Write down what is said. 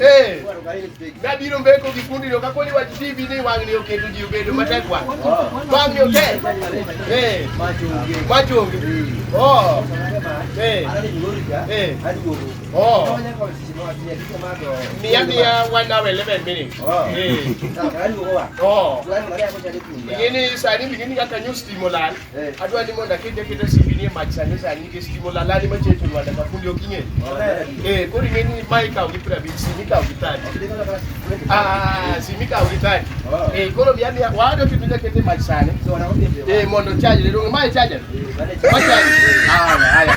Eh. Nabiro mbeko gi fundi no ka koni wach TV ni wang'ni oketo ji obedo matek wang'. Wang'ni otek. Eh. Mach onge. Oh. Eh. Eh. Oh. Miya miya one hour eleven minutes. Eh. Oh. Ing'e ni sani ing'e ni kaka nyo stima olal. adwa ni mondo akete aketa simbi ni e mach sani sani nikech timo lalani machiegni to Rwanda ka fundi ok ing'e. Eh, koro ing'e ni ma ikawo gi prabich, simi ikawo gi tani. Ah, simi ikawo gi tani. Eh, koro bi abi wado kitu ndio kete mach sani. Eh, mondo charge le donge mae charge. Ma charge. Ah, haya.